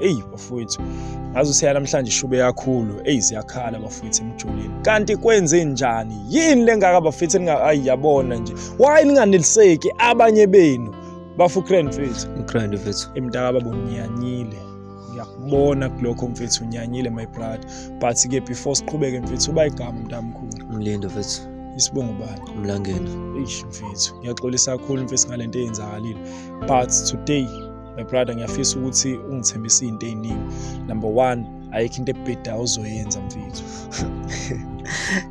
eyi bafowethu ngaze useya namhlanje ishube yakhulu eyi siyakhala bafowethu emjulini kanti kwenze njani yini lengaka bafethu ningayi yabona nje why ninganeliseki abanye benu bafu grand fethu grand fethu imntaka babo ngiyanyile ngiyakubona kulokho mfethu unyanyile my brother but ke before siqhubeke mfethu uba igama mntamkhulu umlindo mfethu isibongo bani umlangeni eish mfethu ngiyaxolisa kakhulu mfethu ngalento eyenzakalile but today my brother ngiyafisa ukuthi ungithembise izinto eziningi number 1 ayikho into ebheda uzoyenza mfethu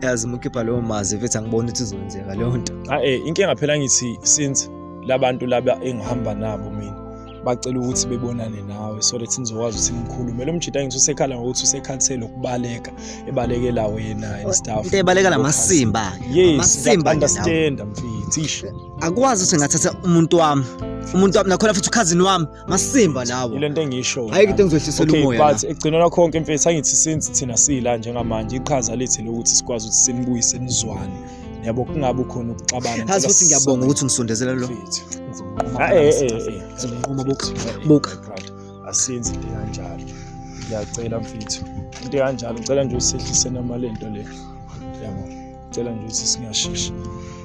yazi mukhipha leyo mazi mfethu angiboni ukuthi izoyenzeka leyo nto ah eh inkinga phela ngithi since labantu laba engihamba nabo mina bacela ukuthi bebonane nawe so that nizokwazi ukuthi nikhulume lo mjita ngithi usekhala ngokuthi usekhathele ukubaleka ebalekela wena and stuff into ebaleka lamasimba yes amasimba understand mfethu akwazi ukuthi ngathatha umuntu wami umuntu wami nakhona futhi ukhazini wami masimba lawo yile nto engisho hayi into engizohlisela umoya okay but ekugcinela konke mfethu angithi since thina sila njengamanje iqhaza lethu lokuthi sikwazi ukuthi sinibuyise nizwane yabo kungabe khona ukuxabana ngathi futhi ngiyabonga ukuthi ngisondezela lo ngizomqoma eh eh eh buka buka asenzi into kanjalo ngiyacela mfethu into kanjalo ngicela nje usehlise namalento le yabo ngicela nje ukuthi singashesha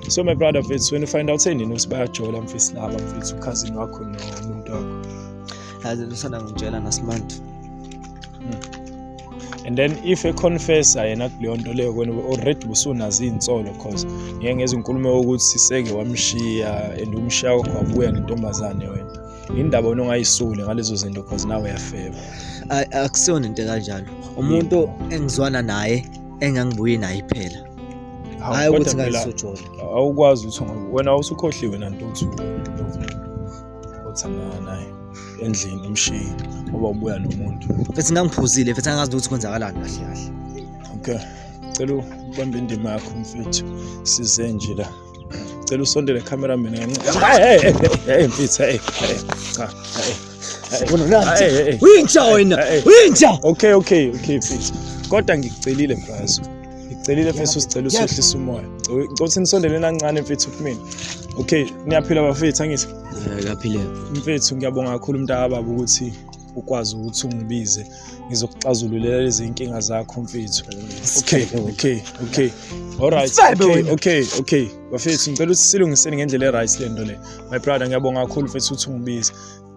so my brother mfethu when you find out senini ukuthi bayajola mfethu laba mfethu ukhazini wakho nomuntu wakho yazi lusana ngitshela nasimanje hmm. and then if econfessa yena kuleyo nto leyo kwena already busunazo iy'nsolo cause ngeke ngezinkulumo yokuthi siseke wamshiya and umshiya wakho wabuya nentombazane wena indaba wena ongayisuli ngalezo zinto cause nawe uyafeba akusiyona into kanjalo umuntu engizwana naye engangibuye naye phela hayi ukuthi ngalisojola awukwazi ukuthi wena usukhohliwe nantuthu othandana naye endlini umshiyi ngoba ubuya nomuntu futhi ngangiphuzile futhi angazi ukuthi kwenzakalani kahle kahle okay cela ubambe indima yakho mfethu size nje la cela usondele camera mina kancane hayi hey hey mfitha hey cha hey uyintsha wena uyintsha okay okay okay mfitha kodwa ngikucelile mfazi ngicelile mfethu usicela usehlisa umoya ngicela nisondeleni kancane mfethu kumina okay niyaphila bafethu angithi ngiyaphila mfethu ngiyabonga kakhulu mntakababa ukuthi ukwazi ukuthi ungibize ngizokuxazululela lezi inkinga zakho mfethu okay okay okay alright okay okay okay bafethu ngicela ukuthi silungiseni ngendlela e-right le nto le my brother ngiyabonga kakhulu mfethu ukuthi ungibize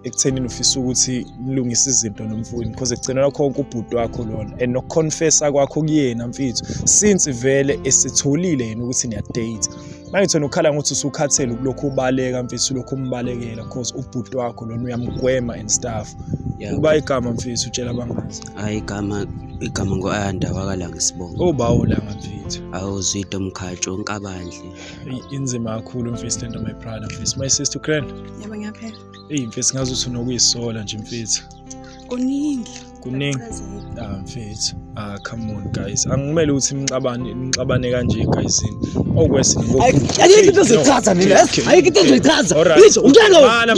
ekuthenini ufisa ukuthi nilungise izinto nomfowenu because ekugcina lakho konke ubhuti wakho lona and nokuconfessa kwakho kuyena mfethu since vele esitholile yena ukuthi niyadate Mangithena ukhala ngokuthi usukhathele kulokhu ubaleka mfethu lokhu umbalekela cause ubhuti wakho lona uyamgwema and stuff. Yeah. Uba igama mfethu utshela abangazi. Hayi igama igama ngo-ayanda wakalanga isibongo obawo langa mfethu awuzwide mkhatsho unkabandle inzima kakhulu mfethu lento my brother mfethu my sister grand yebo ngiyaphela eyi mfethu ngazi ukuthi unokuyisola nje mfethu kuningi kuningi ah mfethu ah come on guys angimele ukuthi imxabane imxabane kanje guysini okwesi oh, ayike into zoyichaza mina ayike into zoyichaza bitch ungena wena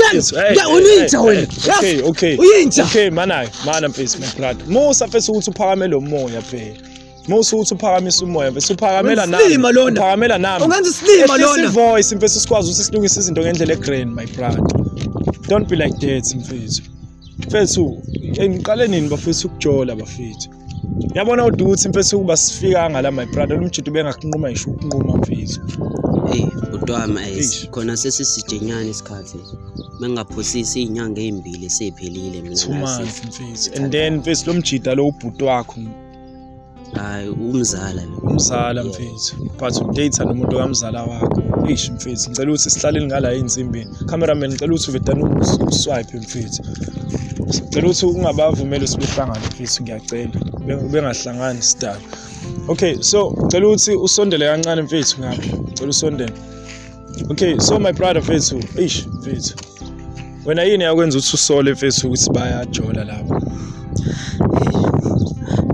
uyinja wena okay okay uyinja okay manayo mana mfethu my brother musa mfethu ukuthi uphakame lo moya phela Musa uthi uphakamisa umoya mfethu uphakamela nami. Usilima lona. Uphakamela nami. Ungenza isilima lona. Isi voice mfethu sikwazi ukuthi silungise izinto ngendlela egrand my brother. Don't be like that mfethu. Mfethu, ngiqale nini bafethu ukujola bafethu? Yabona uthi ukuthi mfethu ukuba sifika ngala my brother lomjito bengakunquma ngisho ukunquma mfethu. Hey, udwama Eish. khona sesisijenyana isikhathi. Mengaphosisi izinyanga ezimbili sephelile mina. Two nasi. months mfethu. And then mfethu lomjita lo ubhuti wakho hayi umzala lo umzala mfethu but udate nomuntu kamzala wakho eish mfethu ngicela ukuthi sihlaleni ngala insimbi cameraman ngicela ukuthi uvedane uswipe mfethu ngicela ukuthi ungabavumeli sibehlangane mfethu ngiyacela bengahlangani sidala okay so ngicela ukuthi usondele kancane mfethu ngapha ngicela usondele okay so my brother mfethu eish mfethu wena yini yakwenza ukuthi usole mfethu ukuthi bayajola lapho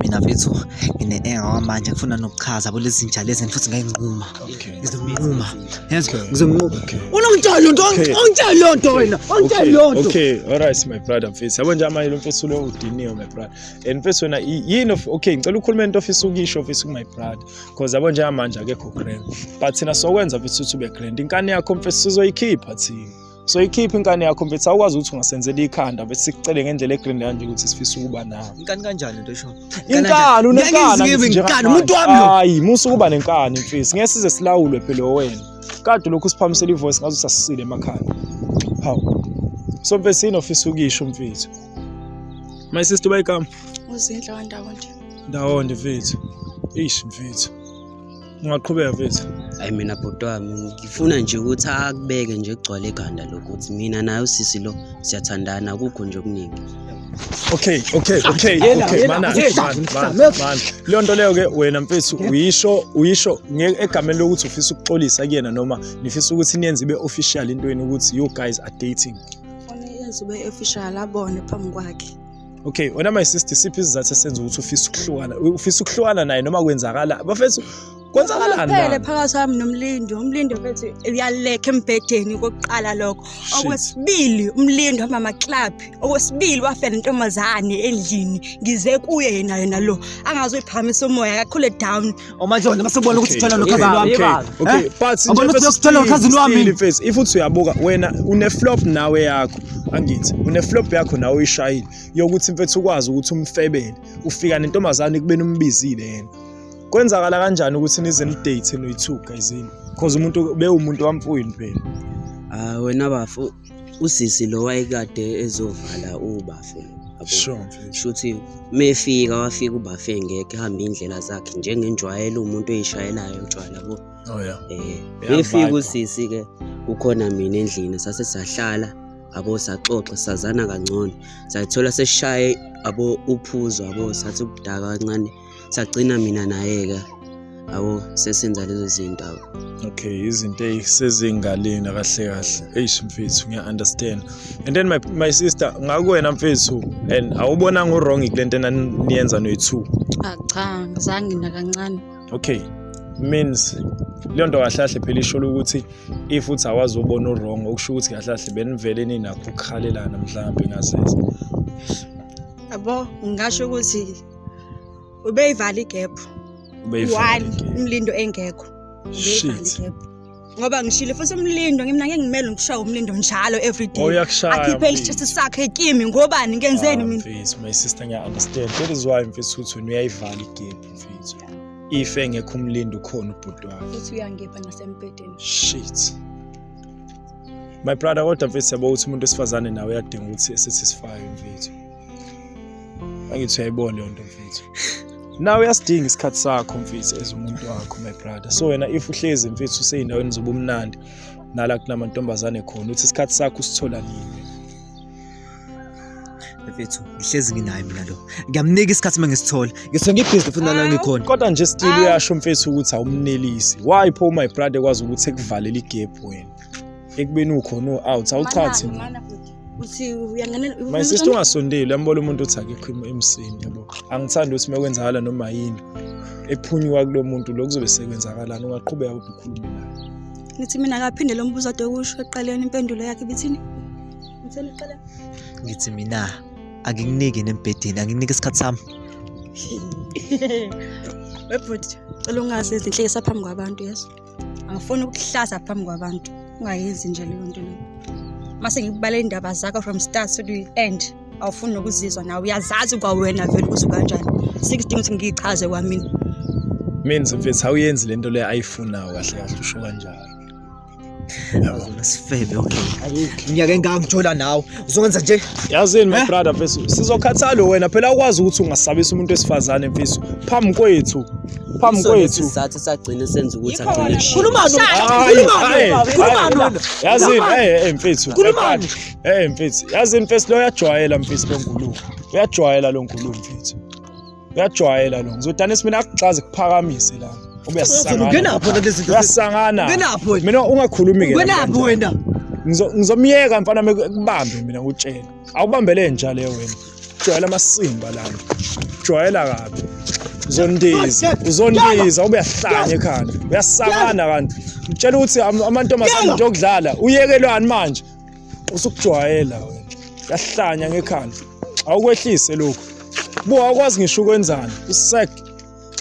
mina mfethu ngine-engawa manje ngifuna nokuchaza bo lezi zinja lezi futhi ngayinquma ngizokunquma yezwa ngizokunquma unongitshela loo nto ongitshela loo nto wena ongitshela loo nto okay all right my brother mfethu yabo nje amanye lo mfethu lo udiniwe my brother and mfethu wena yini okay ngicela ukhulume into ofisa ukuyisho ofisa ku-my brother cause yabo njengamanje akekho grand but thina sokwenza futhi ukuthi ube grand inkani yakho mfethu sizoyikhipha thina soyikhipha inkani yakho mfethu awukwazi ukuthi ungasenzela ikhanda bese sikucele ngendlela egrand kanje ukuthi sifisa ukuba nawe inkani kanjani into esho inkani unenkani umuntu wami hayi musa ukuba nenkani mfethu ngeke size silawulwe phela wena kade lokhu siphamisela ivoice ngazo sasisile emakhanda hawu so mfethu yini ofisa ukisho mfethu my sister bayikama uzinhle wandawo nje Ndawonde mfethu. Eish mfethu. Ungaqhubeka mfethu. Hayi mina bhuti wami ngifuna nje ukuthi akubeke nje kugcwale ekhanda lokho ukuthi mina naye usisi lo siyathandana akukho nje okuningi. Okay, okay, okay, Yena, okay, yena, mana, yena, mana, yena, mana, yena. mana. Leyo nto leyo ke wena mfethu uyisho uyisho nge- egameni lokuthi ufisa ukuxolisa kuyena noma nifisa ukuthi niyenze ibe official intweni ukuthi you guys are dating. Funa yenze ube official abone phambi kwakhe. okay wena my sister siphi isizathu esenza ukuthi ufisa ukuhlukana ufisa ukuhlukana naye noma kwenzakala bafethu kwenzakalani phele phakathi wami nomlindo umlindo bethi uyalekha embhedeni kokuqala lokho okwesibili umlindo hamba amaclub okwesibili wafela intombazane endlini ngize kuye yena yena lo angazoyiphakamisa umoya akakhule down Omajola masubona ukuthi uthola nokhazi lwami. Okay, but sinje ukuthi uthola nokhazi lwami. Face if uthi uyabuka wena une flop nawe yakho. Angithi une flop yakho nawe uyishayile. Yokuthi mfethu ukwazi ukuthi umfebele. Ufika nentombazane kubeni umbizile yena. Kwenzakala kanjani ukuthi nize ni date noyi two guys yini? Because umuntu bewumuntu wamfuyini phela. Ah wena bafu usisi lo wayekade ezovala ubafe sure shuthi mefika wafika ubafe ngeke hambe indlela zakhe njengenjwayelo umuntu oyishayelayo utshwala bo oh yeah eh mefika usisi ke kukhona mina endlini sase sahlala abo saxoxa sazana kangcono sayithola seshaye abo uphuzo abo sathi ukudaka kancane sagcina mina nayeka abo sesenza lezo zinto abo okay izinto ezisezingaleni kahle kahle eish mfethu ngiya-understand and then my, my sister ngakuwena mfethu and awubonanga uwrong kule nto enaniyenza noyi-two ah, cha ngizange nakancane okay means leyo nto kahlahle phela isholo ukuthi if uthi awazi ubona uwrong okusho ukuthi kahlahle benivele ninakho ukukhalelana mhlawumbe ngasese yabo ngingasho ukuthi ubeyivala igephu one umlindo engekho ubeyivala igephu ngoba ngishile futhi umlindo ngimna ngeke ngimele ngishaye umlindo njalo every day oh, akhiphe isitshisi sakhe kimi ngobani ngenzeni ah, mina mfethu my sister ngiya understand that is why mfethu uthi uyayivala igephu mfethu if engekho umlindo ukhona ubhuti wakhe futhi uyangipha nasembhedeni shit my brother kodwa mfethu yabo ukuthi umuntu wesifazane nawe uyadinga ukuthi esithi sifayo mfethu angithi uyayibona leyo nto mfethu nawe uyasidinga isikhathi sakho mfethu as umuntu wakho my brother so wena if uhlezi mfethu useyindaweni zobumnandi nala kunamantombazane khona uthi isikhathi sakho usithola nini mfethu ngihlezi nginaye mina lo ngiyamnika isikhathi uma ngisithola ngisuke ngibhizi futhi nala ngikhona kodwa nje still uyasho mfethu ukuthi awumnelisi why pho my brother kwazi ukuthi ekuvalela igap wena ekubeni ukhona u-out awuchathi Mana, futhi. Uthi uyangenela- my uyangenela- sister ungasondeli uyambona umuntu uthi akekho im- emsini yabo angithandi ukuthi uma kwenzakala noma yini ephunyuka kulo muntu lo kuzobe sekwenzakalani ungaqhubeka kodwa ukhulume naye Ngithi mina akaphinde lo mbuzo ade kusho eqaleni impendulo yakhe bithini? Ngitheni eqaleni? ngithi mina angikuniki nembhedeni anginiki isikhathi sami Webhuti, cela ungazi izinhlekisa phambi kwabantu yes. angifuni ukuhlaza phambi kwabantu ungayenzi nje leyo nto leyo mase ngikubalela indaba zakho from start to the end awufuni nokuzizwa nawe uyazazi kwawena vele ukuthi kanjani sikudinga ukuthi ngiyichaze kwamina means mfethu awuyenzi le nto leyo ayifunayo kahle kahle usho kanjalo sifebe okay ngiyake ngangithola nawe Uzokwenza nje. Yazini my eh? brother mfethu, sizokhathala wena phela ukwazi ukuthi ungasabisa umuntu esifazane mfethu. Phambi kwethu. Phambi kwethu. Isizathu sagcina senza ukuthi agcine kushaya. Khulumani. Khulumani. Khulumani. Yazini eh, eh mfethu. Khulumani. Eh mfethu. Yazini mfethu lo uyajwayela mfethu lo ngulungu. Uyajwayela lo ngulungu mfethu. uyajwayela lo ngizodanisa mina akuxaze kuphakamise la Uzulu, ungenaphi wena kulezi zinto? uyasangana Ungenaphi wena? mina ungakhulumi ke Ungenaphi wena? Ngizo- ngizomyeka mfana me- kubambe mina ngutshela awubambele nja leyo wena jwayela amasimba lana jwayela kabi uzondiza uzondiza ube yahlanya ekhanda uyasakana kanti utshela ukuthi am- amantombazane Yala! nje okudlala uyekelwani manje usukujwayela wena yahlanya ngekhanda awukwehlise lokhu buka akwazi ngisho ukwenzani usek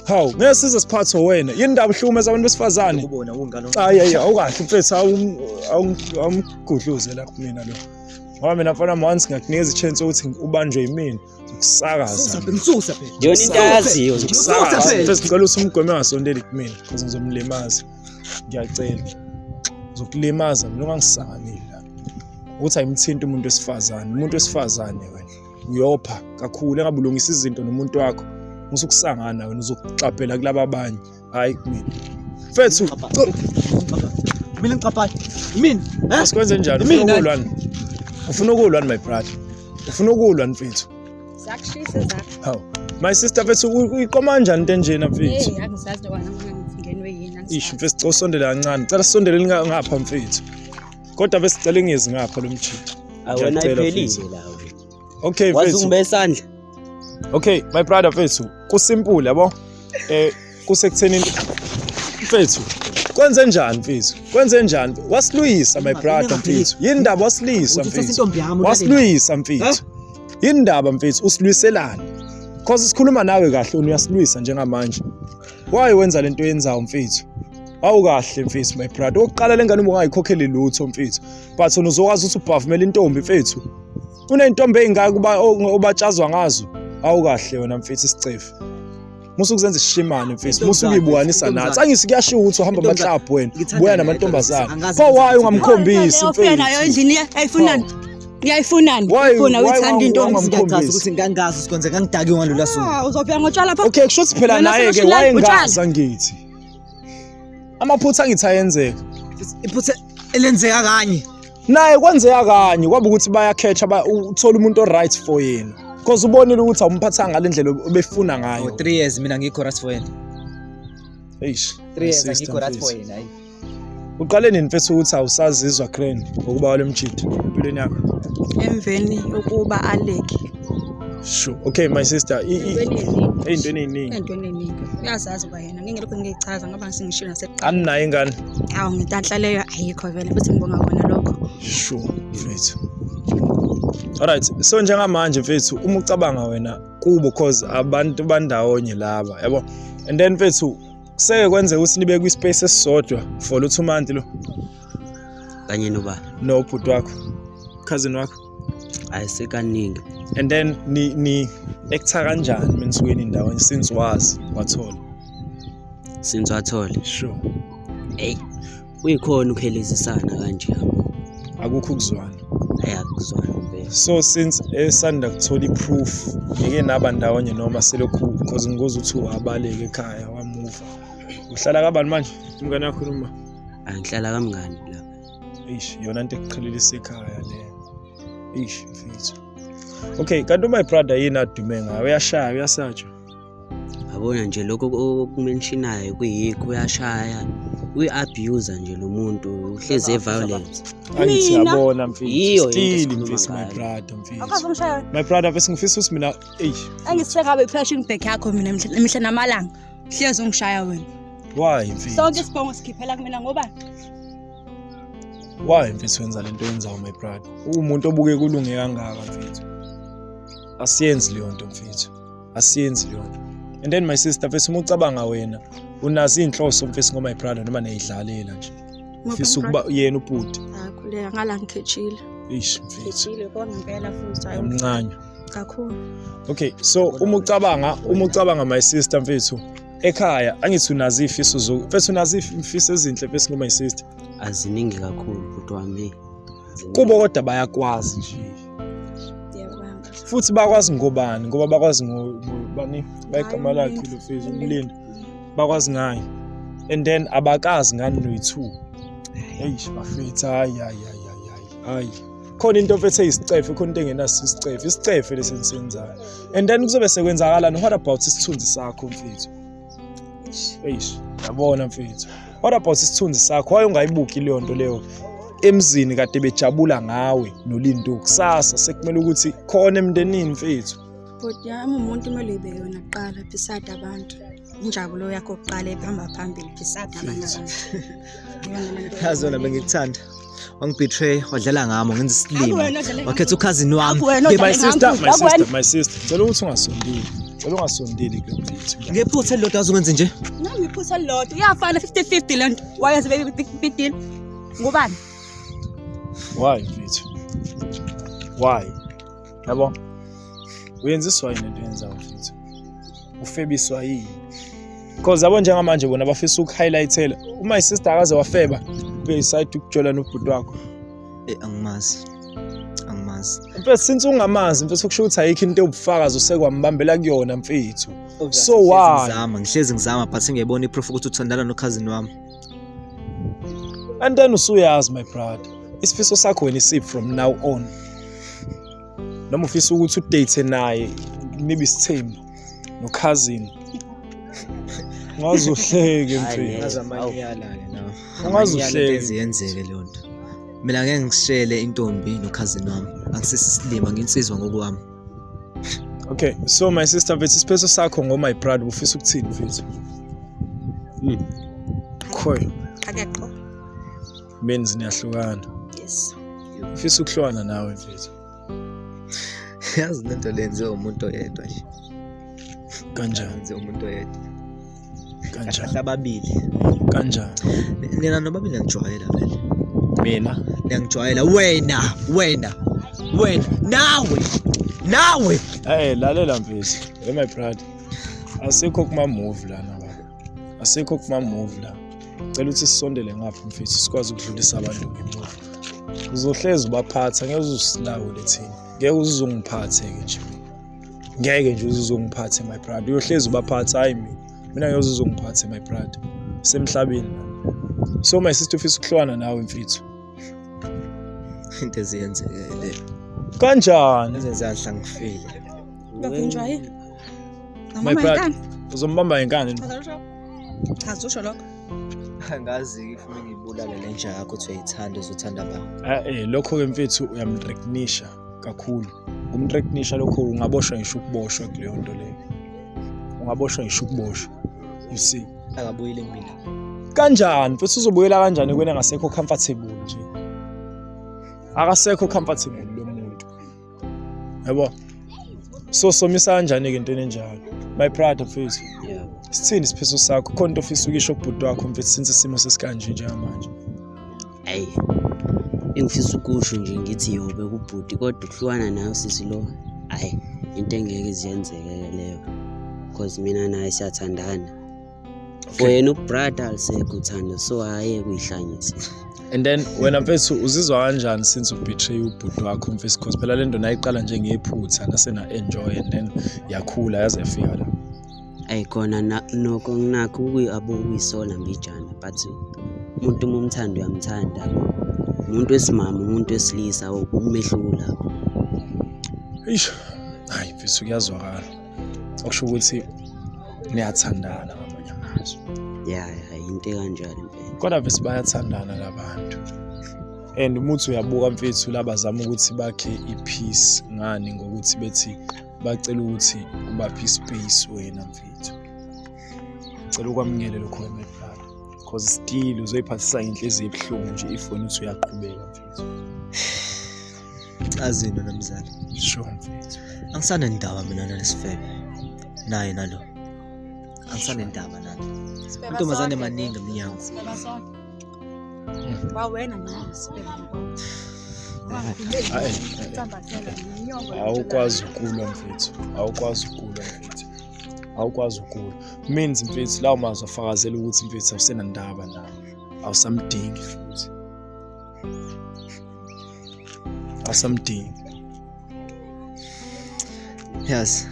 hawu ngeke size siphathwe wena yini ndaba uhlukumeza abantu besifazane kubona kungalo hayi hayi awukahle mfethu awum- awum- awumgudluze lapho mina lo ngoba mina mfana once ngakunikeza ichance ukuthi ubanjwe yimina ukusakaza ngisusa phela yona into ayaziyo ukusakaza phela ngicela uthi umgome angasondeli kumina because ngizomlimaza ngiyacela ngizokulimaza mina ungangisanganeli la ukuthi ayimthinta umuntu wesifazane umuntu wesifazane wena uyopha kakhulu engabulungisa izinto nomuntu wakho musukusangana wena uzokuxabhela kulaba abanye Hayi kumina. Mfethu. Mina ngiqaphayo. Yimini. Eh? Sikwenze njani? Ufuna Yimina. ukulwa ni? Ufuna ukulwa ni my brother? Ufuna ukulwa ni mfethu? Zakushisa zakho. Hawu. My sister mfethu u- uyiqoma kanjani into enjena mfethu? Hey, angisazi lokho angifunga ngifungenwe yini. angisazi. Ish mfethu cela usondele kancane. Cela sondeleni nga- ngapha mfethu. Kodwa besicela ingezi ngapha lomjita. Awena Ngiyacela, iphelile mfethu. la. okay wazi ungibe isandla okay my brother mfethu kusimple yabo eh kusekuthenini mfethu kwenze njani mfethu kwenze njani wasiluyisa my brother mfethu yini ndaba wasilisa mfethu wasiluyisa mfethu yini ndaba mfethu usilwiselani cause sikhuluma nawe kahle uyasilwisa njengamanje why wenza lento yenzayo mfethu awukahle mfethu my brother oqala lengane ubungayikhokheli lutho mfethu but wena uzokwazi ukuthi ubhavumele intombi mfethu kuney'ntombi ey'ngaka uba obatshazwa ngazo awu kahle wena mfethu isicefe musa ukuzenza isishimane mfethu musa ukuyibukwanisa nathi angisi kuyashiwo ukuthi uhamba amaklabhu wena buya namantombazane pho waye ungamkhombisi mfethu nayo endlini eyifunani ngiyayifunani ufuna uyithanda into ongazigacaza ukuthi ngangazi usikonze ngangidaki ngalula suku ah, uzofika ngotshwala pho okay kusho ukuthi phela naye ke wayengaza ngithi amaphutha angithi ayenzeka iphutha elenzeka kanye naye kwenzeka kanye kwaba ukuthi bayakhetsha uthola umuntu o-right for yena because ubonile ukuthi awumphathanga ngale ndlela obefuna ngayo oh, three years mina ngikho right for yena eish three years ngikho right for yena uqale nini mfethu ukuthi awusazizwa grand ngokuba wale mjidi empilweni yakho emveni yokuba aleke sure okay my sister ey'ntweni ey'ningi ey'ntweni ey'ningi uyazazi uba yena ngingilokhu ngiyichaza ngoba sengishilo nasekuqala aninayo ingane awu ngitanhla leyo ayikho vele futhi ngibonga kona lokho sure mfethu alright so njengamanje mfethu uma ucabanga wena kubo cause abantu bandawonye laba yabo and then mfethu kuseke kwenzeka ukuthi nibe kwi-space esisodwa for lo two month lo kanye noba nobhuti wakho cousin wakho ayisekaningi and then ni ni ektha kanjani mensuweni ndawo since wazi wathola since wathola sure hey uyikhona ukhelezisana kanje yabo akukho ukuzwana ayakuzwana so since esanda kuthola i-proof ngeke naba ndawonye noma selokhu because ngikoze ukuthi uabaleke ekhaya wamuva uhlala kabani manje umngane wakhuluma angihlala kamngani la eish yona into ekuqhelelisa ekhaya le eish mfethu okay kanti uma ibrother yini adume ngayo uyashaya uyasatshwa yabona nje lokho okumenshinayo kuyikho uyashaya uyi-abuser nje lo muntu uhlezi e-violence angithi yabona mfethu still mfethu my brother mfethu my brother mfethu ngifisa ukuthi mina eyi angisisekabe i-flashing back yakho mina mihla namalanga hlezi ungishaya wena why mfethu sonke isibongo sikhiphela kumina ngoba why mfethu wenza lento yenzayo my brother uwumuntu obuke kulunge kangaka mfethu asiyenzi leyo nto mfethu asiyenzi leyo nto and then my sister mfethu uma ucabanga wena unazo iy'nhloso mfethu ngo-my brother noma niyayidlalela nje fisa ukuba yena ubhuti akhuleka ngala ngikhethile ish mfethu ngithile konke impela futhi hayi yamncanywa kakhulu okay so uma ucabanga uma ucabanga my sister mfethu ekhaya angithi unazi ifiso zo mfethu unazi imfiso ezinhle mfethu ngo my sister aziningi kakhulu bhuti wami kubo kodwa bayakwazi nje futhi bakwazi ngobani ngoba bakwazi ngobani bayigama lakhe lo mfethu umlindi bakwazi ngayo and then abakazi ngani noyi-two eish bafethu hayi hayi hayi hayi hayi khona into ofethe isicefe khona into engenaso isicefe isicefe lesi nisenzayo and then kuzobe sekwenzakalani what about isithunzi sakho mfethu eish yabona mfethu what about isithunzi sakho waye ungayibuki leyo nto leyo emzini kade bejabula ngawe nolinto kusasa sekumele ukuthi khona emndenini mfethu bhuti yami umuntu kumele ibe yona kuqala beside abantu injabulo yakho kuqala ekuhamba phambili phisada yazona bengikuthanda wangibetray wadlala ngami ngenza isilima wakhetha ukhazini wami my sister my sister my sister cela ukuthi ungasondeli cela ungasondeli kule mfethu ngephutha elilodwa azokwenze nje nami iphutha elilodwa iyafana 50 50 lento wayenza baby big deal ngubani why mfethu why yabo uyenziswa yini into yenzayo mfethu ufebiswa yini because yabo njengamanje bona bafisa ukuhighlightela uma isister akaze wafeba beside ukujola nobhuti wakho eh angimazi angimazi mfethu since ungamazi mfethu kusho ukuthi ayikho into obufakazi usekwambambela kuyona mfethu so why ngizama ngihlezi ngizama but ngiyibona iproof ukuthi uthandana nokhazini wami and then usuyazi my brother isifiso sakho wena isip from now on noma ufisa ukuthi udate naye nibe isithembu nokhazini ungazuhleke mfethu azamanyala-ke nawe Ungazuhleki. Enze yenzeke leyo nto mina ngeke ngishele intombi nokhazini wami angisisisilima nginsizwa ngokwami okay so my sister mfethu isiphetho sakho ngo my brother ufisa ukuthini mfethu Hmm. khoyo Akaxo. Meni niyahlukana. Yes. Ufisa ukuhlukana nawe mfethu. Yazi lento lenziwe umuntu oyedwa nje. Kanjani? Yenziwe umuntu oyedwa. Kanjani? Ababili. Kanjani? Nina nobabili ngijwayela vele. Mina ngiyangijwayela wena wena wena nawe nawe. Hey lalela mfethu. Hey my brother. Asikho kuma move lana. asikho kumamuvi la cela ukuthi sisondele ngapha mfethu sikwazi ukudlulisa abantu ngemuva uzohlezi ubaphatha ngeke uzusilawule thina ngeke uzuzongiphathe-ke nje ngeke nje uzuzongiphathe my brother uyohlezi ubaphatha hhayi mina mina ngeke uzuzongiphathe my brother semhlabeni so my sister ufisa ukuhlwana nawe mfethu into eziyenzekele kanjani ezenze anhlangifile Ngavinjwa yini? My Ngamama brother. inkani. Uzombamba ngenkani. Chaza lutho. Chaza usho lokho. angazi-ke ifuna ngiyibulale le nja yakho kuthiwa ithanda uzothanda abantu Ah, eh lokho ke mfethu uyamrecognisha kakhulu. Ukumrecognisha lokho ungaboshwa ngisho ukuboshwa kuleyo nto leyo. Ungaboshwa ngisho ukuboshwa. You see. akabuyile kumina kanjani futhi uzobuyela kanjani kwena ngasekho comfortable nje akasekho comfortable yabo so somisa kanjani-ke into enenjalo my pride mfethu yeah. sithini isiphiso sakho khona into ofisa ukisho kubhuti wakho mfethu since isimo sesikanje njengamanje ayi engifisa ukusho nje ngithi yobe kubhuti kodwa ukuhlukana nayo sisi lo ayi into engeke ziyenzeke leyo because mina naye siyathandana for yena ubrother alisekho uthando so hhayi kuyihlanyisa and then wena mfethu uzizwa kanjani since ubetray ubhuti wakho mfethu because phela le nto nayiqala njengephutha nasena-enjoy and then yakhula yaze yafika la ayi khona noko nginakho ukuyisola mbijana but umuntu uma umthanda uyamthanda umuntu wesimama umuntu wesilisa umehluko lapho eish hayi mfethu kuyazwakala okusho ukuthi niyathandana ngamanye amazwi ya ya yinto ekanjalo impela kodwa vese bayathandana labantu and umuthi uyabuka mfethu labazama ukuthi bakhe i-peace ngani ngokuthi bethi bacela ukuthi ubaphe i-space wena mfethu cela ukwamukele lokho wemedlalo because still uzoyiphathisa inhliziyo ebuhlungu nje if wena uthi uyaqhubeka mfethu Azini wena mzala. Sure. Angisanendaba mina nalesifebe. Naye nalo. Angisanendaba nalo. Sibheka Amantombazane sonke. maningi emnyango. Sibheka sonke. Mm. Wawena manje sibheka. Hayi. Sambathela inyongo. Awukwazi ukulwa mfethu. Awukwazi ukulwa mfethu. Awukwazi ukulwa. Means mfethu lawo mazwi afakazela ukuthi mfethu awusenandaba naye. Awusamdingi futhi. asamdingi yes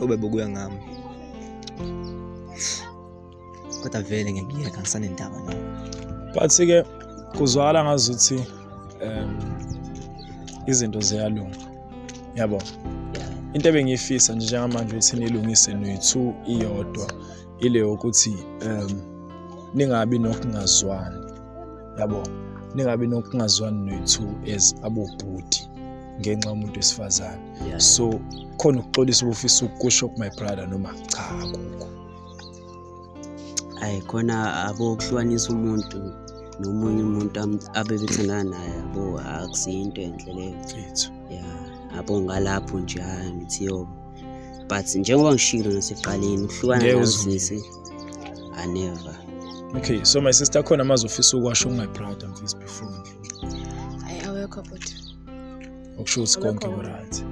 ube bukuya ngami kodwa vele ngekuyeka ngisanendaba na but-ke kuzwakala ngazuthi um izinto ziyalunga yabo into ebengiyifisa nje njengamanje ukuthi nilungise noyi-two iyodwa ile yokuthi um ningabi nokungazwani yabo ningabi nokungazwani nethu as abobhuti ngenxa yomuntu wesifazane so khona ukuxolisa ubufisa ukusho ku my brother noma cha akukho ayi khona abokuhlukanisa umuntu nomunye umuntu abebethandana naye abo akusiyinto enhle leyo ya abo ngalapho nje hayi ngithi yobo but njengoba ngishilo nasekuqaleni ukuhlukana nosisi i never okay so my sister akhona amazwi ofisa ukwasho my brother mfisi before ayi awekho bhuti okusho ukuthi konke kuright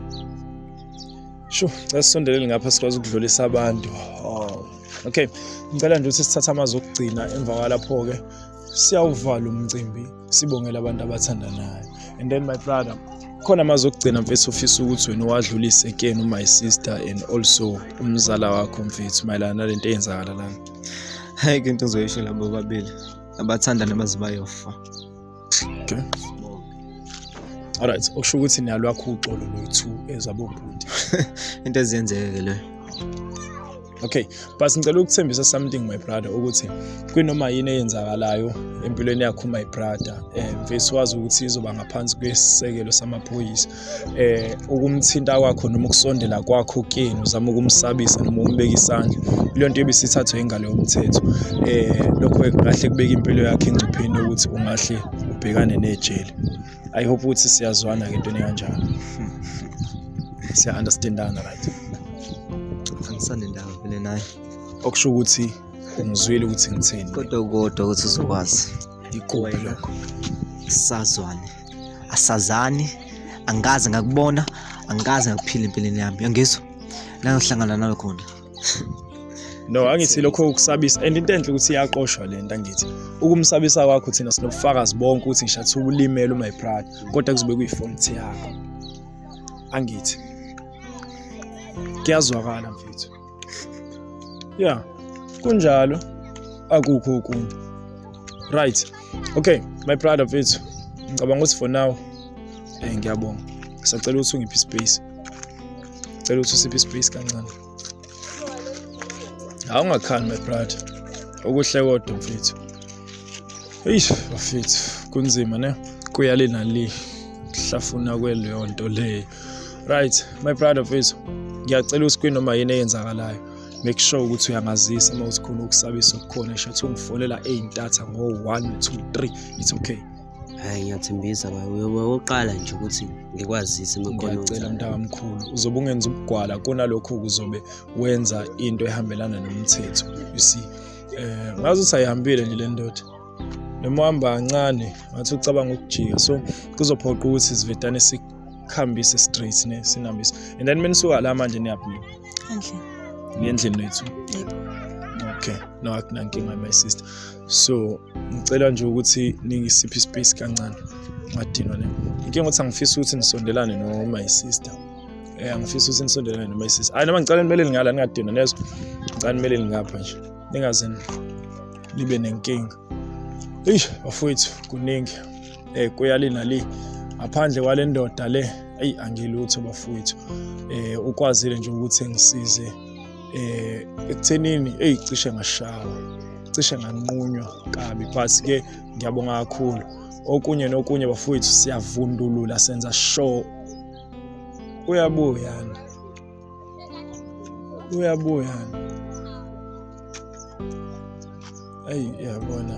sho sasisondelele ngapha sikwazi ukudlulisa abantu oh. okay ngicela nje ukuthi sithathe amazwi okugcina emva kwalapho-ke siyawuvala umcimbi sibongela abantu abathandanayo and then my brother khona amazwi okugcina mfethu ofisa ukuthi wena uwadlulise kuyena my sister and also umzala wakho mfethu mayelana nale nto eyenzakala lana hayi ke into uzoyisho labo babili abathandana baze bayofa okay alright okusho ukuthi niyalwakho uxolo lwethu ezabobhuti into ezenzeke ke leyo okay but ngicela ukuthembisa something my brother ukuthi kwinoma yini eyenzakalayo empilweni yakho my brother eh mfethu wazi ukuthi izoba ngaphansi kwesisekelo samaphoyisa eh ukumthinta kwakho noma ukusondela kwakho kuyena uzama ukumsabisa noma umbeka isandla leyo nto ebisithathwe ingalo yomthetho eh lokho kahle kubeka impilo yakhe engcupheni ukuthi ungahle ubhekane nejele i hope ukuthi siyazwana ke into enenjalo siya understandana right angisane ndawo vele naye okusho ukuthi ungizwile ukuthi ngithini kodwa kodwa ukuthi uzokwazi iqobo lokho sazwane asazani angikaze ngakubona angikaze ngakuphila empilweni yami yangizwa la ngihlangana nawe khona no angithi lokho ukusabisa and into enhle ukuthi iyaqoshwa le nto angithi ukumsabisa kwakho thina sinobufakazi bonke ukuthi ngishathi ulimele uma iprada kodwa kuzobe kuyifonti yakho angithi kuyazwakala mfethu ya kunjalo akukho okunye right okay my brother mfethu ngicabanga ukuthi for now um ngiyabonga ngisacela ukuthi ungiphi ispace cela ukuthi usiphe ispace kancane awungakhani my brother okuhle kodwa mfethu eish bafethu kunzima ne kuyale nali hlafuna kweleyo nto leyo right my brother mfethu ngiyacela ukuthi kwinoma yini eyenzakalayo make sure ukuthi uyangazisa uma uthi khona ukusabisa okukhona shathe ungifonela ey'ntatha ngo-one two three it's okay Hhayi ngiyathembisa baba, uyoba okokuqala nje ukuthi ngikwazise uma kukhona ngiyacela okwenzakalayo. mntakamkhulu uzobe ungenza ubugwala kunalokho kuzobe wenza into ehambelana nomthetho you see eh ngaze usayihambile nje le ndoda noma uhamba kancane ngathi ucabanga ukujika so kuzophoqa ukuthi sivedane sikhambise straight ne sinambise and then menisuka la manje niyaphuma Endlini. niyendlini lethu Yebo. okay no akunankinga my sister so ngicela nje ukuthi ningisiphe ispace kancane ngadinwa ne inkinga ukuthi angifisi ukuthi nisondelane no my sister eh angifisi ukuthi nisondelane no my sister hayi noma ngicela nimele ngala ningadinwa nezo ngicela nimele ngapha nje ningaze nibe nenkinga eish bafowethu kuningi eh kuyali nali ngaphandle kwale ndoda le eyi angilutho bafowethu eh ukwazile nje ukuthi ngisize eh ekuthenini eyi cishe ngashawa cishe nganqunywa kabi but ke ngiyabonga kakhulu okunye nokunye bafowethu siyavundulula senza show uyabuya uyabuya ayi yabona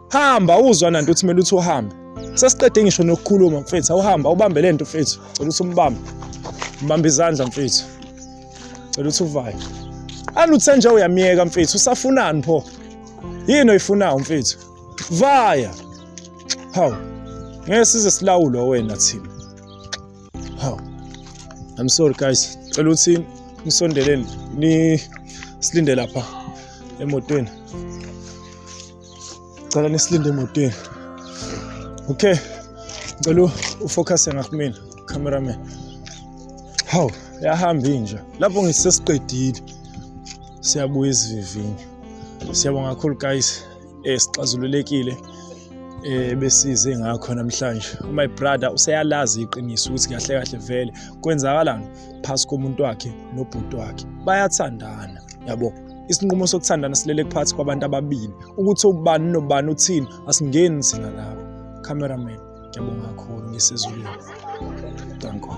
hamba uzwa nanto uthi kumele uthi uhambe sesiqede ngisho nokukhuluma mfethu awuhamba ubambe lento mfethu cela ukuthi umbambe mbambe izandla mfethu cela ukuthi uvaye aluthe nje uyamyeka mfethu usafunani pho yini oyifunayo mfethu vaya hawu ngeke size silawulwa wena thina hawu i'm sorry guys cela ukuthi nisondeleni ni silinde lapha emotweni cela nisilinde emotweni okay ngicela ufocuse ngakumina cameraman hawu yahamba inja lapho ngisesiqedile siyabuya isivivinyo siyabonga kakhulu guys eh sixazululekile eh besize ngakho namhlanje my brother useyalazi iqiniso ukuthi kahle kahle vele kwenzakalani phasi komuntu wakhe nobhuti wakhe bayathandana yabo isinqumo sokuthandana silele phakathi kwabantu ababili ukuthi ubani nobani uthini asingeni thina lapho cameraman ngiyabonga kakhulu ngisezulwini danko